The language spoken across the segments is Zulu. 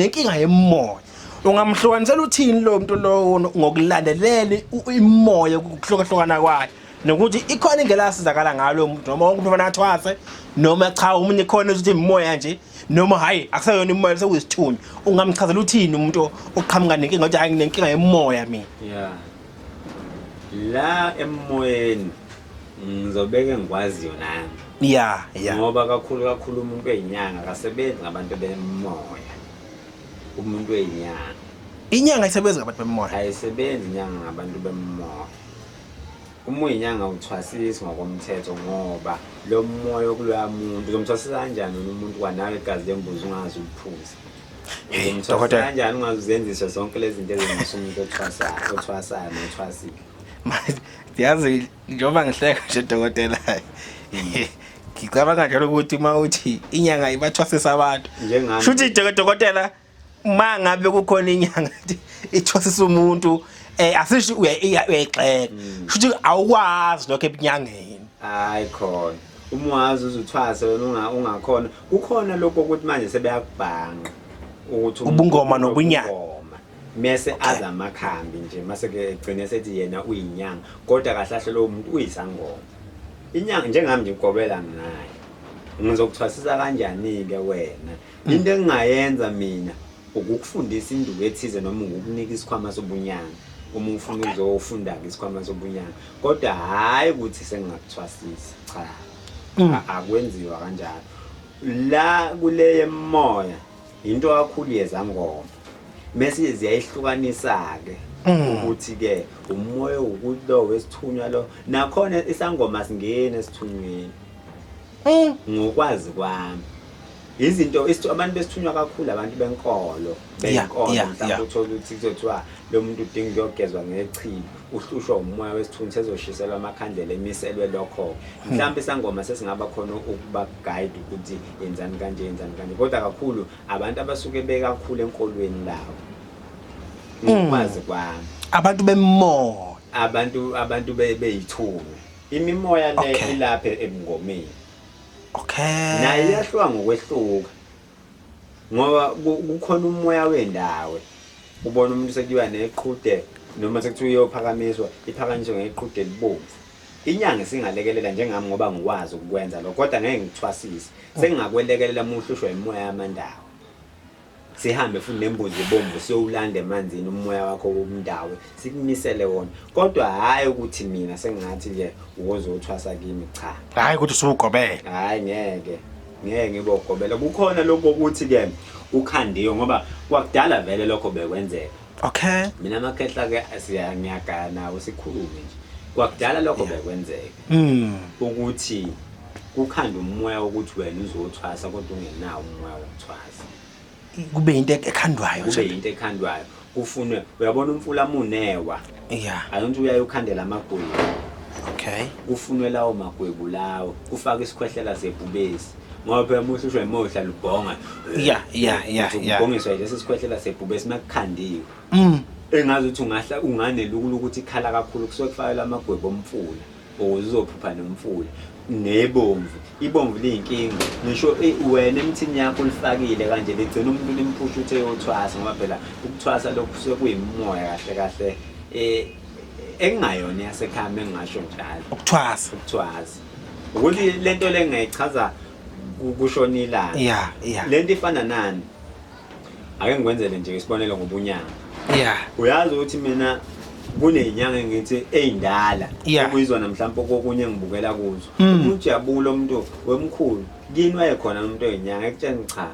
nenkinga yemoya ungamhlukanisela uthini lo muntu lowo ngokulandelela imoya ukuhlukahlukana kwayo nokuthi ikhona indlela asizakala ngalo muntu noma wonke umuntu athwase noma cha umuntu ikhona ukuthi imoya nje noma hayi akusayona imoya sewuyisithunywa ungamchazela uthini umuntu oqhamuka nenkinga ukuthi hayi nginenkinga yemoya mina yeah la emoyeni ngizobeka engikwaziyo nami ya ya ngoba kakhulu kakhulu umuntu weyinyanga akasebenzi ngabantu bemoya umuntu weyinyanga inyanga isebenzi ngabantu bemoya ayisebenzi inyanga ngabantu bemoya uma uyinyanga uthwasisi ngokomthetho ngoba lo moya okuloya muntu uzomthwasisa kanjani umuntu kwanawe igazi lembuzi ungazi uliphuza umthwasisa kanjani ungazi uzenziswe zonke lezi zinto ezenza umuntu othwasayo othwasayo nothwasile yazi njengoba ngihleka nje dokotela ngicabanga njalo ukuthi uma uthi inyanga ibathwasisa abantu shuthi dokotela uma ngabe kukhona inyanga ithwasisa umuntu eh asisho uyayixeka mm. shuthi awukwazi lokho ebunyangeni hayi khona uma wazi uzuthwase wena ungakhona kukhona lokho ukuthi manje sebeyakubhanga ukuthi ubungoma nobunyanga mese okay. aza amakhambi nje mase ke gcine sethi yena uyinyanga kodwa kahle kahle lo muntu uyisangoma inyanga njengami nje ngigobela ngayo ngizokuthwasisa kanjani ke wena hmm. into engingayenza mina ukukufundisa induku ethize noma ngokunika isikhwama sobunyanga uma ufuna okay. uzofunda ke isikhwama sobunyanga kodwa hayi ukuthi sengingakuthwasisa cha hmm. akwenziwa kanjalo la kuleye moya Yinto kakhulu yezangoma. Mese ziyayihlukanisa ke ukuthi ke umoya wokuthi lo wesithunywa lo nakhona isangoma singene esithunyweni. Ngokwazi kwami. Izinto isithu abantu besithunywa kakhulu abantu benkolo Yeah, benkolo yeah, mhlawumbe yeah. uthola ukuthi kuzothiwa lo muntu udinga ukuyogezwa ngechilo. uhlushwa umoya wesithunzi sezoshiselwa amakhandlela emiselwe lokho hmm. mhlawumbe isangoma sesingaba khona ukuba guide ukuthi yenzani kanje yenzani kanje kodwa kakhulu abantu abasuke bekakhulu enkolweni lawo hmm. ngokwazi kwami abantu bemoya abantu abantu beyithunywa imimoya le ilapha ebungomeni okay naye yahluka ngokwehluka ngoba kukhona umoya wendawo ubona umuntu sekuyiwa neqhude noma sekuthiwa uyophakamiswa iphakanyiswe ngeqhude elibomvu inyanga isingalekelela njengami ngoba ngikwazi ukukwenza lokho kodwa ngeke ngithwasise sengingakwelekelela uma uhlushwa imoya yamandawo sihambe futhi nembuzi ebomvu siyowulanda emanzini umoya wakho womndawo sikumisele wona kodwa hhayi ukuthi mina sengingathi ke uwozothwasa kimi cha hhayi ukuthi usuwugobele hhayi ngeke ngeke ngibogobela kukhona lokhu okuthi ke ukhandiwe ngoba kwakudala vele lokho bekwenzeka okay mina amakhehla ke siyangiyagaya nawo sikhulume nje kwakudala lokho bekwenzeka mm. ukuthi kukhanda umoya ukuthi wena uzothwasa kodwa ungenawo umoya wokuthwasa kube yinto ekhandwayo kube yinto ekhandwayo kufunwe uyabona umfula munewa yeah ayonto uyaye ukhandela amagwebu okay kufunwe lawo magwebu lawo kufaka isikhwehlela sebhubesi ngoba phela muhle usho emohla lubhonga yeah yeah yeah yeah ubhongiswa lesi sikhwehlela sebhubesi makukhandiwe mm engazi ukuthi ungahla unganelukula ukuthi ikhala kakhulu kusuke kufakelwa amagwebu omfula ukuze uzophupha nomfula nebomvu ibomvu liyinkinga ngisho eh, wena emthini yakho ulifakile kanje ligcina umuntu limphusha uthe yothwasa ngoba phela ukuthwasa lokhu sekuyimoya kahle kahle eh, engingayona yasekhaya engingasho njalo ukuthwasa ukuthwasa ukuthi lento le ngiyichaza kushona ilanga yeah yeah lento ifana nani ake ngikwenzele nje isibonelo ngobunyanga yeah uyazi ukuthi mina kunezinyanga engithi eyindala Yeah. okuyizona mhlawumbe okokunye engibukela kuzo Mm. umuntu yabula umuntu wemkhulu kini wayekhona umuntu oyinyanga ekutsheni cha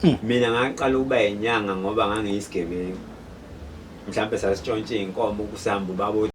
Mm. mina ngaqala ukuba yinyanga ngoba ngangiyisigebengu mhlawumbe sasitshontshe iy'nkomo kusihamba ubaba